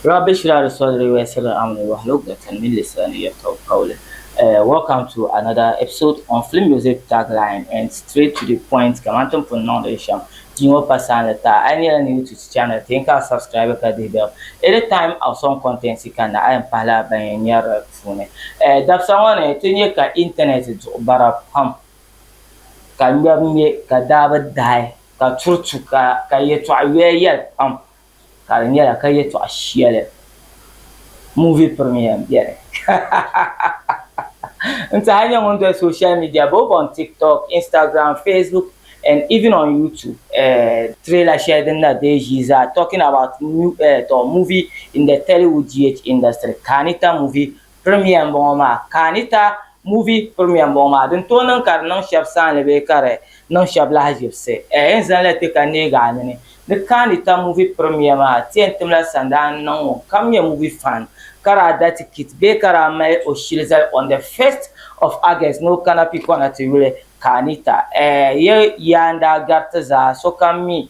Rabbi shira di sɔdiri yɔi siri amini yɔhi lo gbatani mini lisira ni yɛltɔɣu kauli. Welcome to another episode on Film Music Tagline and Straight to the Point kamani ti ni pun niŋdi shɛm di ŋɔ pasaani taa. A yi nyɛla new to ti channel ti n ka subscribe ka dihi bell. Any time awesome content yi kanna a yɛn pahila ban yɛn nyari li puuni. Dabisa ŋɔ ni ti nyɛ ka internet duɣi bara pam ka ŋmɛbu ŋmɛ ka daa bi daai ka turi tu ka yɛltɔɣa yɔya yɛli pam. ka di nyɛla ka yɛtɔɣ shɛli movie premiere m-beni n-tiɛha nyɛ ŋun doli social media both on TikTok, Instagram, Facebook and even on YouTube eh trailer shɛli din na deei ʒii zaa talking about new eh movie in the Tollywood DH industry, Kaanita movie Premiere m-bɔŋɔ maa, ka a ni ta Movie Premiere m-bɔŋɔ maa, din tooi niŋ ka di niŋ shɛb saanli bee ka di niŋ shɛb lahiʒibisi. Ɛɛ yi ni zaŋ li ti ka neegi a nini ni ka a ni ta Movie Premiere maa, ti yɛn timla sandaa n-niŋ ŋunkam nyɛ movie fan ka daa da tikiti bee ka daa mali o shili zali on the first of August ni o kana Pikɔna ti yuli ka a ni ta. Ɛɛ yi yaa n-daa gari ti zaa, sokam mi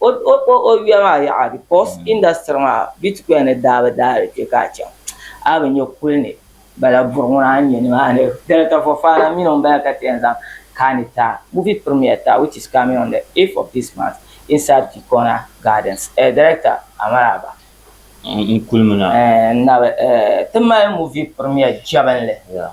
O o o o yuya maa yaɣa because mm. industry maa bitcoin ni daa bi daa di kpe ka a chaŋ a bi nyɛ kuli ni bala buri ŋuna a nyɛ nimaani dini ka Fofana mini ŋun bala ka ti yɛn zaŋ kaani taa movie premiere taa which is coming on the 8th of this month inside Kikona Gardens eh, director Amaraba n kulimi na eh, na eh, ti mali movie premiere jɛbinli yeah.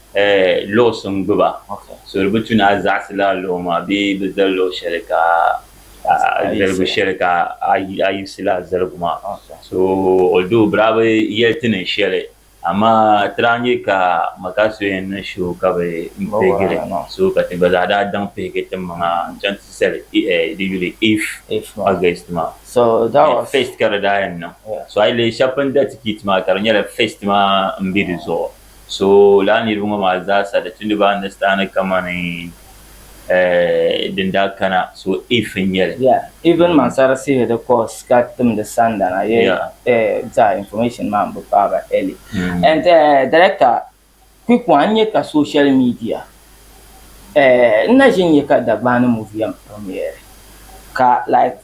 luɣisi n-gbi ba, so di bi tu ni a zaɣisila luɣ maa bee bi zali luɣ shɛli ka a zaligu shɛli ka a yiɣisila a zaligu maa. So although bɛ daa bi yɛli ti niŋ shɛli amaa ti daa nya ka Maka so yɛn niŋ show ka bɛ pihigi li so ka ti gba zaa daa daŋ pihigi tiŋmaŋa n-chaŋ ti zali di yuli eighth August maa. First ka di daa yɛn niŋ. So a yi lihi shɛba pun da tikiti maa ka di nyɛla first maa m-be di zuɣu. So lala niriba ŋɔ maa zaa sa di tundi ba ni sitani kamani din daa kana so if n nyɛli. Yeah even man sa receive di calls ka timdi sanda na ye zaa information maa n bi paai ba early and director quick one n nyɛ ka social media n na ʒi n nyɛ ka Dagbani movie yɛn premiere ka like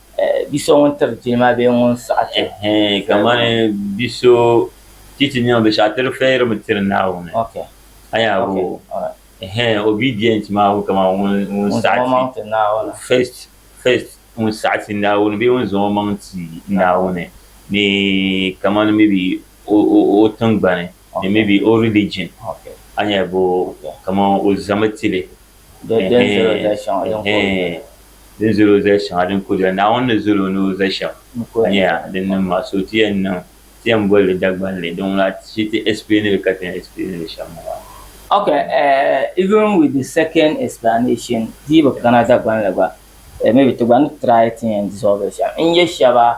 Bi so ŋun tiri ti ma bee ŋun saɣi ti? Hee, kamani bi so ti ti nɛma binshɛɣu ti di fɛyirimi tiri Naawuni. A yaa bo o? Hee, obedient maa ŋun kamani ŋun saɣi ti Naawuni, first, first, ŋun saɣi ti Naawuni bee ŋun zaŋ o maŋ ti Naawuni ni kamani maybe o tiŋgbani ni maybe o religion, a ni yaa bo o? Kamani o zami ti li. Hee, hee. Di ni zali o zali shɛŋa din kuriya, Naawuni ni zali o ni o zali shɛm nyɛya din niŋ maa, so ti yɛn niŋ, ti yɛn boli li Dagbanli, di ŋuna shi ti explain li ka ti yɛn explain li shɛm ŋɔ maa. Ok, eh, even with the second explanation, di yi bi kana Dagbanli gba, eh, maybe ti gba ni try ti yɛn dissolve li shɛm. N-nyɛ shɛba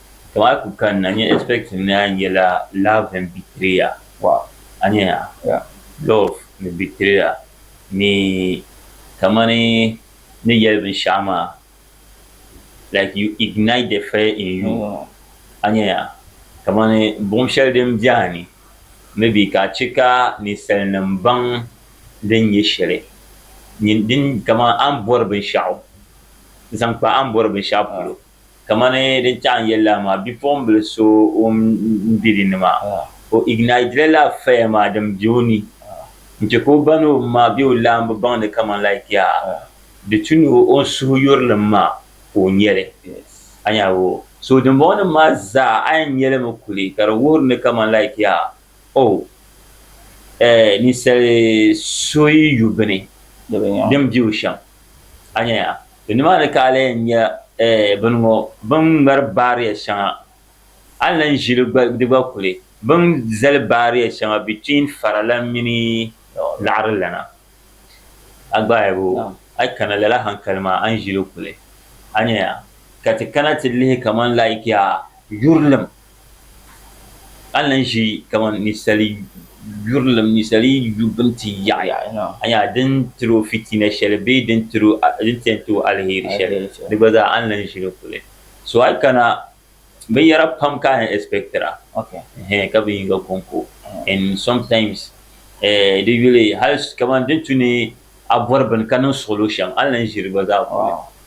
To a ku kanna nye expecting ni a nyela love and betrayer wow a nya ya yeah love ni betrayer ni kamani ni yeli binshɛɣu maa like you ignite the fire in you a nya ya kamani buɣim shɛli din be a ni maybe ka a che ka ninsalinim baŋ din nye shɛli din kamani a ni bɔri binshɛɣu zaŋ kpa a ni bɔri binshɛɣu polo. Kamani din chaɣi n yɛli la maa, bipuɣimbila so ŋun be di ni maa, o ignitila laa fire maa din be o ni n-che ka o ba ni o ma be o laambu baŋ ni kamani like ya di tu ni o ni suhu yurilim maa ka o nya li. A nya hal o. So dimbɔŋɔnim maa zaa a yɛn nya li mi kuli ka di wuhiri ni kamani like ya oh eh ninsali so yi yu bini din be o shɛm. A nya ya? To nimaani ka a lee yɛn nya bini ŋɔ, bini ŋmari baariya shɛŋa, a ni lan ʒi li gba, di gba kuli, bini zali baariya shɛŋa between faralana mini laɣarilana, a gbaahibu, a kana lala hankali maa, a ni ʒi li kuli, a nyaya, ka ti kana ti lihi kaman like a yurilim ka lahi ʒe kamani ninsali yurilim ninsali yi yu bini ti yaɣiya a nya din tiri o fitina shɛli bee din tiri o din ti yɛn ti o aliheri shɛli di gba zaa a ni lahi ʒi di puli so a yi kana binyɛra pam ka a yɛn ɛsipɛkitira ɛɛh ka binyiŋga ko n-ko ɛn sɔmtaims ɛɛh di yuli hali kamani din tu ni a bɔri bini ka niŋ suɣulo shɛm a ni lahi ʒi di gba zaa puli.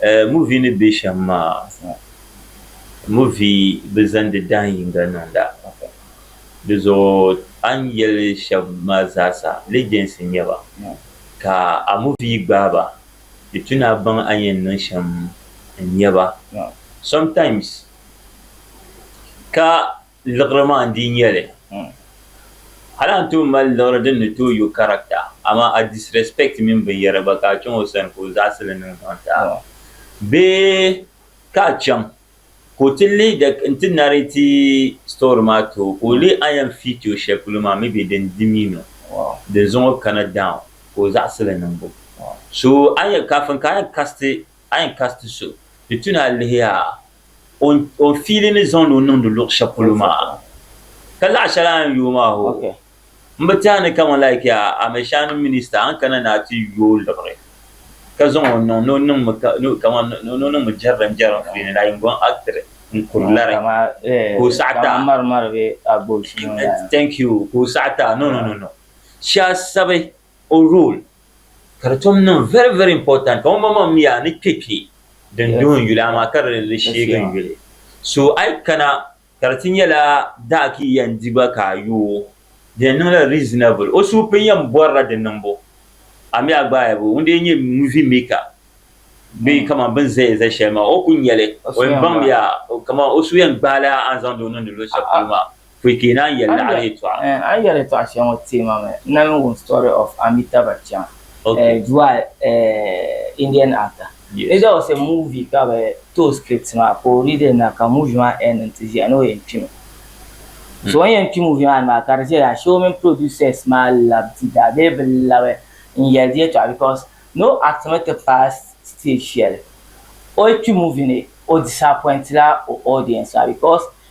Eh, movie ni be shem maa, movie bi zandi dahin yinga niŋda. Di zuɣu a ni yeli sheb maa zaasa legends n nyɛ ba. Ka a movie yi gbaai ba, di tu ni a baŋ a ni yen niŋ shem n nyɛ ba. Sometimes ka Liɣiri maa n-dii nyɛ li. Hali a ni tooi mali liɣiri din ni tooi yo character, amaa a disrespect mini binyɛra gba ka a chaŋ o sani ka o zaɣisi li niŋ zaŋ ti a. Bee ka a chaŋ ka o ti leei di n-ti narrate story maa ti o ka o leei a yɛn feat o shɛli polo maa maybe din di mi ni o din zaŋ o kana down ka o zaɣisi li niŋbu. So a ni yɛn, kafin ka a yɛn cast a yɛn kasi ti so, di tu ni a lihi a o o ni fiili ni zaŋdi o niŋdi luɣ shɛli polo maa. Ka laɣ shɛli a ni yooi maa hoo, m bi tɛha ni kaman like a Amɛshaanim minista a ni kana ni a ti yo o liɣiri ka zaŋ o niŋ ni o niŋmi ka ni o kaman ni o niŋmi jɛrilim jɛrilim puuni la yiŋgɔn actiri n-kuri lari ka o saɣi ti a. Thank you. Ka o saɣi ti a. No, no, no, no. Shaasabi o role. ka di tom niŋ very very important ka ŋunbɔŋɔ maa mi yaa ni kpe kpe din duhi n yuli amaa ka di li sheegi n yuli so a yi kana ka di ti nyɛla daa ka yi yɛn di ba ka a yo o di yɛn niŋla reasonable o suhu pini yɛn bɔrila di niŋbu a mi a gbaai bo ŋun dee nyɛ movie maker bee kaman bini zaya za shɛli maa o ku nya li o yɛn baŋ mi yaa kaman o suhu yɛn gbaai la a ni zaŋdi o niŋdi luɣushɛli polo maa. Pui ka yi naan yɛli ni a ni yɛtɔɣa? Eh, a yɛlitɔɣa shɛli ŋɔ teei ma mi. N na mi wum story of Amitabh Bachchan, eh, Jua, eh, Indian actor. Yes. It was a movie ka bɛ ti o script maa ka o read na ka movie maa end nti ʒiya ni o yɛn kpi mi. So o ni yɛn kpi movie maa ni maa ka di ʒiya shee o mini producers maa labi di daa bee bɛ labi n yɛli di yɛtɔɣa because ni o act mi ti paai stage shɛli o yi kpi movie ni o disappoint la o audience maa because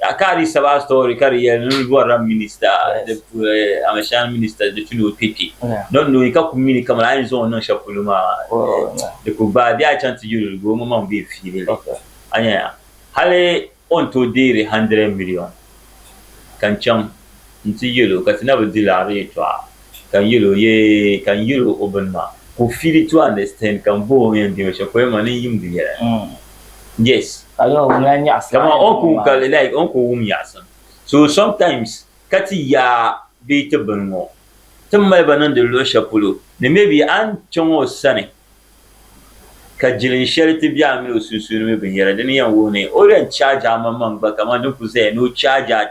A ka di saba story ka di yɛli ni bɔrila minista amashani minista di tuni o kpe kpe nɔn nɔyi ka ku mini kamani a yɛn zaŋ o niŋ shɛli polo maa di ku gbaai bee a chaŋ ti yuli di gba o ŋɔ maŋ bee fiili li a nya ya hali o ni tooi deeri hundred million ka n chaŋ n-ti yɛl o ka ti na bi di laɣiri yɛtɔɣa ka n yɛl o yee ka n yɛl o bini maa ka o feel it to understand ka m bohi o n yɛn deemi shɛli pɔi maa ni n yimdi yɛla yes kaman o ni ku wum ka like o ni ku wum yaɣisim so sometimes ka ti ya bee ti bini ŋɔ ti ni mali ba niŋdi luɣ shɛli polo ni maybe a ni chaŋ o sani ka jilin shɛli ti be a mini o sunsuuni mi binyɛra dini n-yɛn wuhi ni o yɛn charge a maŋmaŋ gba kaman din kuli zaya ni o charge a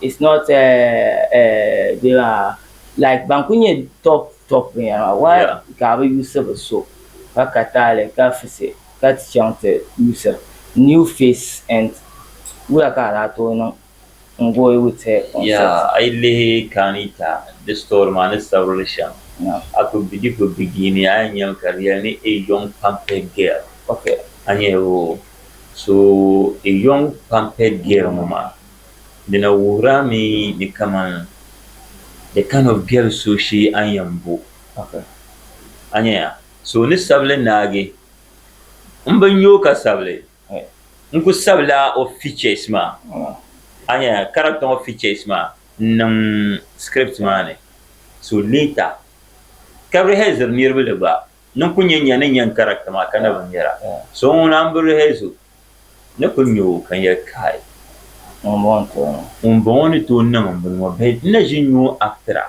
It's not like ban kuli nyɛ top top binyɛra maa why ka bɛ yuusi bɛ so ka ka taali ka fisi ka ti chaŋ ti yuusi new face and wula ka a daa tooi niŋ n go with her concert. Yeah, a yi lihi Kaanita di story maa ni sabirili shɛm a kuli bi di kuli begini a yɛn nyami ka di yɛli ni a young pamped girl a nyɛla o so a young pamped girl ŋɔ maa Di na wuhir a mi ni kaman the kind of girl so shee a ni yɛn bo. A nya ya? So o ni sabi li naagi, M bi nya o ka sabi li. N ku sabila o features maa, a nya ya, character ŋɔ features maa n-niŋ script maa ni. So later, ka rehearse iri niriba li gba. Ni n ku nya nya ni nya n character maa ka na bi nya a. So ŋuna m bi rehearse o. ni kul nya o ka n yɛli, Kai! Ŋumbɔŋɔ n-tooi niŋ? Ŋumbɔŋɔ ni tooi niŋ m-bɔŋɔ ŋɔ, bɛ ni na ʒi nyu o aktira.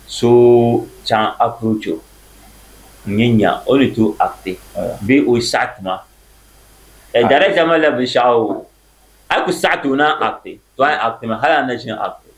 So chaŋ approach o n-nyin nya o ni tooi akti bee o saɣi ti ma. Ɛɛ, Director malila binshɛɣu o, a yi ku saɣiti o ni a akti, too a yi aktimi, hal a ni na ʒini akti.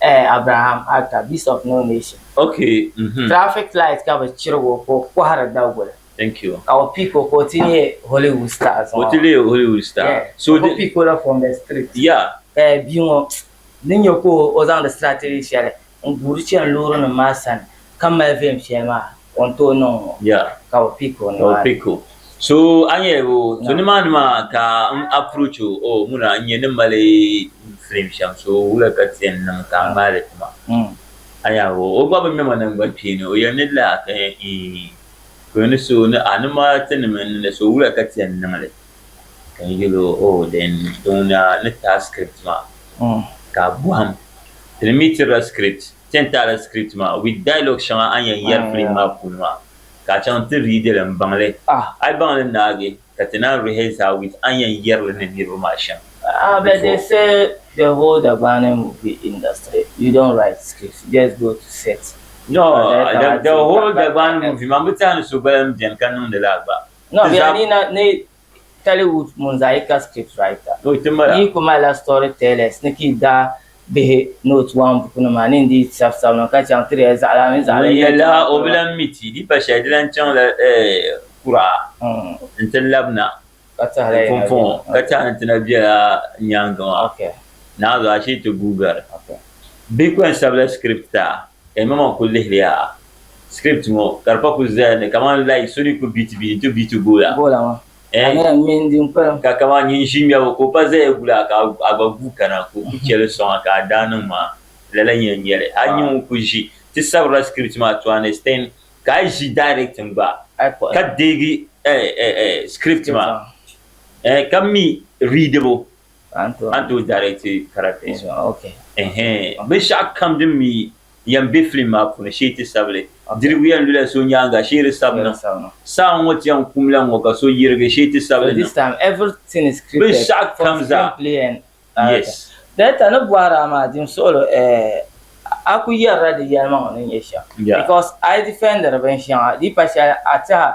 Eh Abraham Atta, Beast of No Nation. Ok mhm. Traffic light ka bi chirig o ka o kɔhiri daguli. Thank you. Ka o pick o ka o ti nyɛ Hollywood star zuŋɔ. O ti leei Hollywood star. Yeah. So o ku pick o la from the street. Yeah. Ka bia ŋɔ ni nyɛ ka o zaŋdi strategy shɛli n guuri chani loori nim maa sani ka mali vɛm shɛli maa. O ni tooi niŋ ŋɔ, ka bi pick o nimaani. So a nya o, so nimaani maa ka n approach o, oh muna n nya ni mali film shɛm so wula ka ti yɛn niŋ ka a ŋmaai li ti ma? A nya o, o gba bi ŋme ma naŋgban kpeeni, o yɛli ni lala a ka yɛn eeh, ka o ni so ni a ni ma ti ni mini li so wula ka ti yɛn niŋ li? Ka n yɛl o, oh then di ŋuna ni taai script maa ka a bɔhim, ti ni mi tirila script. Ti ni taali script maa with dialogue shɛŋa a ni yɛn yɛri film maa puuni maa ka a chaŋ ti read li m-baŋ li. A yi baŋ li naagi ka ti naan rehearse a with a ni yɛn yɛri li ni niriba maa shɛm before. But they say the whole Dagbani movie industry you don't write script you just go to set. No, the whole Dagbani movie maa m bi tehi ni so gba lahi beni ka niŋdi li a gba. No, bɛ yaa ni na ni Tollywood Munzaika script writer yi ku malila story tellers ni ka yi daa bihi ni o ti waŋ bukunima maa ni n-dii sabi sabi niŋ ka chaŋ ti di ya zaɣilana mini zaɣilɛli yɛn chaŋ Ŋun yɛli a o bi lan mi ti di pa shɛli di lan chaŋla kuraa nti lab na di pumpɔŋɔ ka tɛha ni ti na bela nyaaŋa maa. Naazɔa Ashitu Guugari. Bihi ku yɛn sabila script taa ka yi maŋmaŋ ku lihiri ya Script ŋɔ ka di pa kuli zaya ni kaman like so ni ku beat bia nti beat gola gola ŋɔ eh kamera mini din kpalim. Ka kaman nyin ʒi ŋmɛbu ka o pa zaya guli a ka a gba guui kana ka o ku cheli soŋa ka a daa niŋ maa lala nyɛl nyɛli. A nya ŋun kuli ʒi ti sabirila script maa to an extent ka a yi ʒi directing gba ka deegi eh eh eh script maa eh ka mi readibu An tooi daari ti karate ɛhɛɛn. Binshɛɣu kam din mi yɛn be filim maa puuni shee ti sabi li. Dirigu yɛn lula so nyaaŋa shee di sabi niŋ. Saa ŋ-ŋɔ ti yɛn kum la ŋ-ŋɔ ka so yirigi shee ti sabi li niŋ. Binshɛɣu kam zaa yes. Director ni bɔhiri a maa dim suɣilo eh a ku yɛrila di yɛlimaŋ ni nyɛ shɛm because a yi defendiri binshɛŋa di yi pa shɛli a tiɛha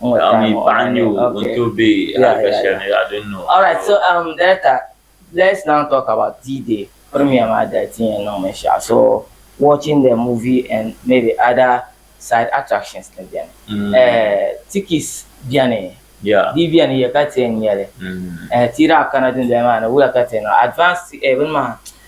Naɣim yi paɣa n-nyɛ o, o ni tooi be halifa shɛli ni yaɣa din niŋ o. Alright so um director let's now talk about D-Day premiere maa dali ti yɛn niŋ binshɛɣu so watching the movie and maybe other side attractions ni beni eh tickets beni di beni ya ka ti yɛn nyali eh ti yi daa kana dundoli maa ni wuya ka ti yɛn niŋ advance eh bini maa.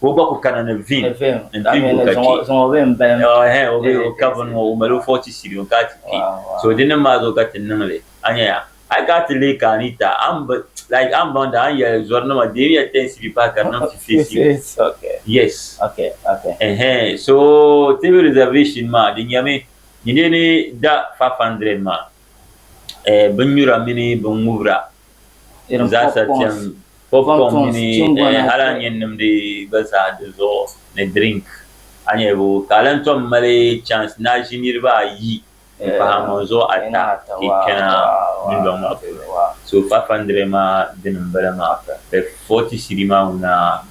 ka o gba ku kana ni vin nti gu ka kpi. Ɛɛh, o bee o ka bini ŋɔ o mali o fɔɣu ti siri o ka ti kpi. So di nim maa zuɣu ka ti niŋ li. A nya ya? Hali ka a ti leei ka Anita, a ni bi, like, a ni baŋ di a ni yɛli zɔrinima deemi ya tɛnsi bi pahi ka di niŋ ti face you. Yes. Ɛɛh, so TV reservation maa di nyami ni dee ni da five hundred maa, ɛɛh, binnyura mini binŋubira. n zaasa kpɛm pop kɔŋ mini hali a ni yɛn nimdi gba zaa di zuɣu ni drink a ni yɛlibu ka a lan tom mali chance ni a ʒi niriba ayi n pahi a maŋ zuɣu ata ti kpɛna dundɔŋ maa puuni so 500 maa dini m bala maa 40 cedi maa ŋuna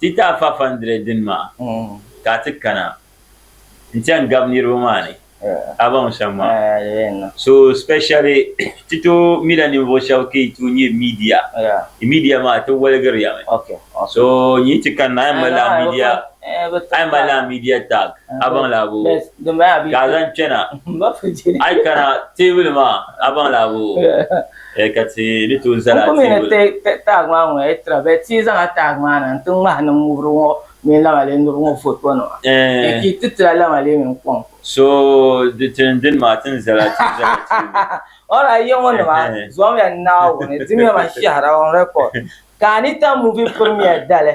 Ti taai fafa n-diri dini maa ka a ti kana nti yɛn gabi niriba maa ni a baŋ shɛm maa. So specially ti tooi mila ninvuɣ shɛb ka yi tooi nyɛ media. Yi media maa ti waligiri ya mi. So n yi ti kanna a yɛn mali lala media a yɛn mali lala media tag a baŋ laa boo ka a zaŋ kpɛna. A yi kana teebuli maa a baŋ laa boo. Ee ka ti ni tooi zali a tiibu la. N kumi ni ti taag maa ŋɔ yi tira bɛ ti zaŋ a taag maa na nti ŋmahi niŋ ŋubiri ŋɔ mini lamalee niriba ŋɔ foto nima ka yi ti tira lamalee mini kɔŋko. So di tin dini maa ti ni zali a tiibu la tiibu. Alright yiŋɔ nima zuɣimiya Naawuni dimiya man shɛhira on record ka Anita movie premiere dali.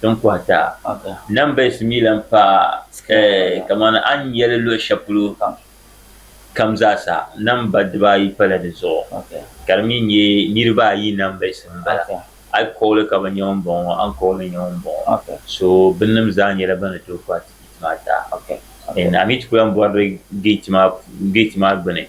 din kɔhi daa. Numbers mi lan paai kamani a ni nya li luɣ shɛli polo kam zaa sa, namba dibaa ayi pala di zuɣu, ka di mi nyɛ niriba ayi numbers m-bala. A yi kɔɣi li ka bi nya ŋumbɔŋɔ, a ni kɔɣi li nya ŋumbɔŋɔ. So binnim zaa nyɛla ban ni tooi kɔhi tikiti maa daa. N, a mi ti ku lan bɔri di gate maa gbini.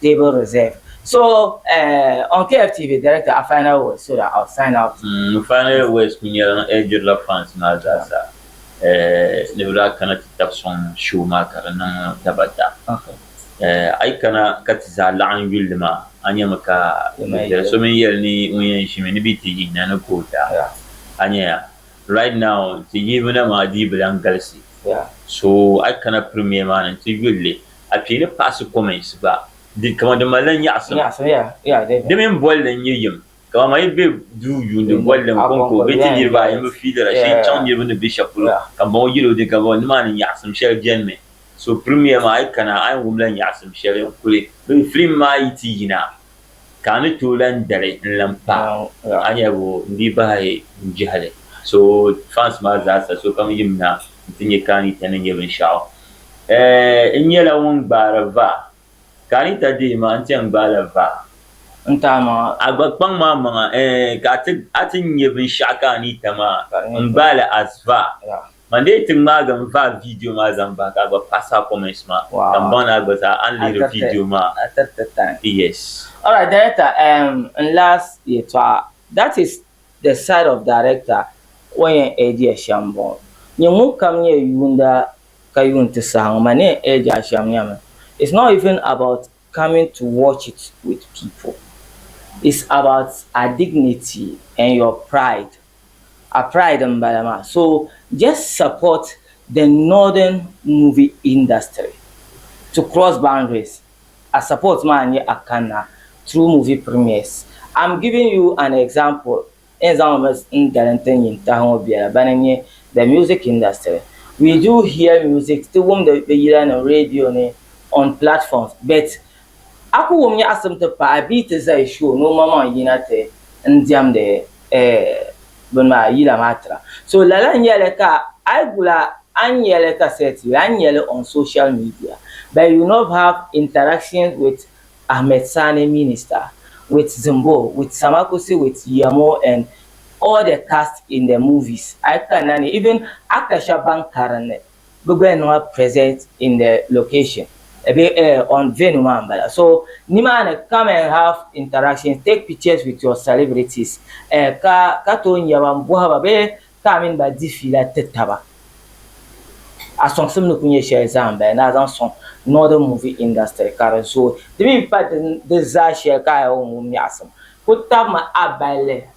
Table reserved So, uh, on KFTV, director a final words so that I'll sign out. N final words kuli nyɛla n ɛɛjirila fans maa zaa sa eh, ni bɛ daa kana ti tab sɔŋ show maa ka di niŋ daba da. Eh, a yi kana ka ti zaa laɣim yulli maa, a nyami ka bɛ biɛri so mini yɛli ni ŋun yɛn ʒimi ni bɛ ti yihi na ni ka o da. A nya ya, right now ti yihibuna maa dii bi lan galisi. So, a yi kana premiere maa ni nti yulli. A kpee ni paɣisi comments gba di kaman di malila nyaɣisim. Di mini bolli n nyɛ yim. Kaman ma yi be duu yuuni bolli n konko bee ti niriba ayi mi fiilira shee n chaŋ niriba ni be shɛli polo ka m bɔŋɔ yɛli o di gabɔ nimaani nyaɣisim shɛli beni mi. So premiere maa a yi kana a ni wumla nyaɣisim shɛli n kuli be film maa yi ti yina ka a ni tooi lan dari n-lan paai o aniɛbo n-dii bahi n jɛhili so fans maa zaasa sokam yim na nti nya ka Anita ni nya binshɛɣu. N nyɛla ŋun gbaari va, ka Anita deei ma n-ti yɛn gbaai la va. N ti a maŋa. A gba kpaŋ ma a maŋa, ka a ti nya binshɛɣu ka Anita maa n gbaai li as va. Man dee ti ŋmaagi n vaai vidio maa zaŋ bahi ka a gba pass a comments maa ka m baŋ ni a gba zaa a ni lihiri vidio maa a tiriti time yes. Alright director ehm n last yɛtɔɣa that is the side of director o yɛn age ya shɛm m bɔŋɔ nyɛ ŋun kam nyɛ yuunda ka yuun ti sahi ŋɔ ma ni yɛn age a shɛm nyami it's not even about coming to watch it with people it's about a dignity and your pride A pride n bala maa so just support the northern movie industry to cross boundaries a support maa n nyɛ a kanna through movie premiers am giving you an example n zaŋ mi n dali n ti nyin tahi ŋɔ biɛla bani n nyɛ the music industry we do hear music ti wumdi bɛ yila ni radio ni on platforms but A ku wum nyaɣisim ti paɣi bia ti zali show ni o maŋmaŋ yina ti n diɛmdi bini maa, yila maa tira. So lala n nyɛli ka a yi gula a ni nyɛli kasɛt yuli, a ni nyɛli on social media but you not have interactions with Ahmed Sani Minister, with Zimbo, with Samakusi, with Yiamo and all the cast in the movies. A yi kanna ni even actor shɛba ban karinli. Bɛ gba yɛn niŋla present in the location bee eh on venue maa m-bala. So, nimaani come and have interactions, take pictures with your celebrities eh ka ka tooi nya ba m-bɔhi ba bee ka a mini ba di fiila ti taba. A sɔŋsim ni ku nyɛ shɛli zaa m-bala ni a zaŋ sɔŋ Northern movie industry ka di zooi. Di mi pa di zaa shɛli ka a yɛn wum miɛɣisim ku tabimi a balli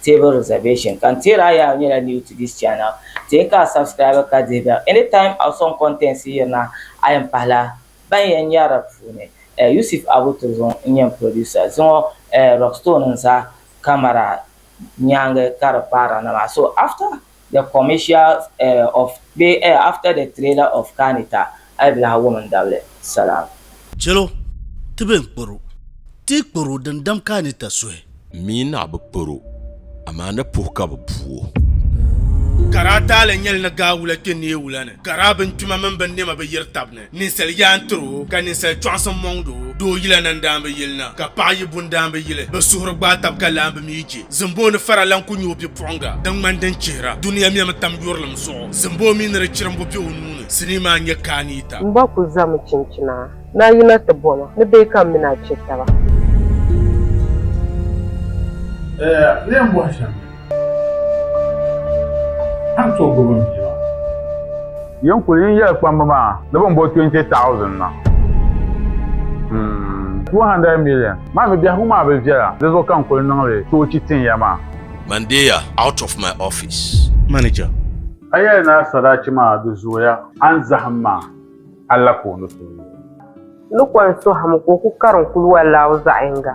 table reservation ka n teeri a yaa nyɛla new to this channel tee ka a subscribe ka dihi bell anytime a song contents yirina a yɛn pahila ban yɛn nyari di puuni Yusuf Abu Turzun n nyɛ n producer zuŋɔ Rockstone n za camera nyaanga ka di paara na maa so after the commercial eh, of be eh, after the trailer of Kanita ayi bi lahi wum n dabili Salam. Chelo, ti be n kporo, ti kporo din dam Kanita suhi. M mi ni a bi kporo, amaa ni puhi ka bi bu o. Kara taali nyɛli ni gaa wula kpe neei wula ni. Kara bintuma mini binnɛma bi yiri tab ni. Ninsal yaan tiri o, ka ninsal chɔɣisim mɔŋd o, doo yila na n-daan bi yili na, ka paɣ yi bu n-daan bi yili. Bɛ suhuri gbaai tab ka lahi bi mi yi chɛ. Zimboo ni fara lan ku nya o bipuɣiŋga din ŋmani din chihira. Dunia mɛmi tam yurilim zuɣu. Zimboo mi ni di chirimbu be o nuu ni, sinii maa n-nyɛ Kaaniita. M ba ku zami chinchina. Ni a yina ti bo ma, ni bee ka m mini a chɛ taba? Eya, ni yɛn bɔhi shɛm. Tam so gbubi n bia maa. Yin kuli yin yɛli kpamba maa ni bin bo 20,000 na. Hmm. 200 million. Maa mi biɛhigu maa bi viɛla, di zuɣu ka n kuli niŋli choochi tin ya maa. Mandeya out of my office. Manager. A yɛli ni a sadachi maa di zooya, a ni zahim maa, Allah ka o ni tooi. Ni kɔŋ sohim ka o ku karim kuluwa laaw zaɣ yiŋga.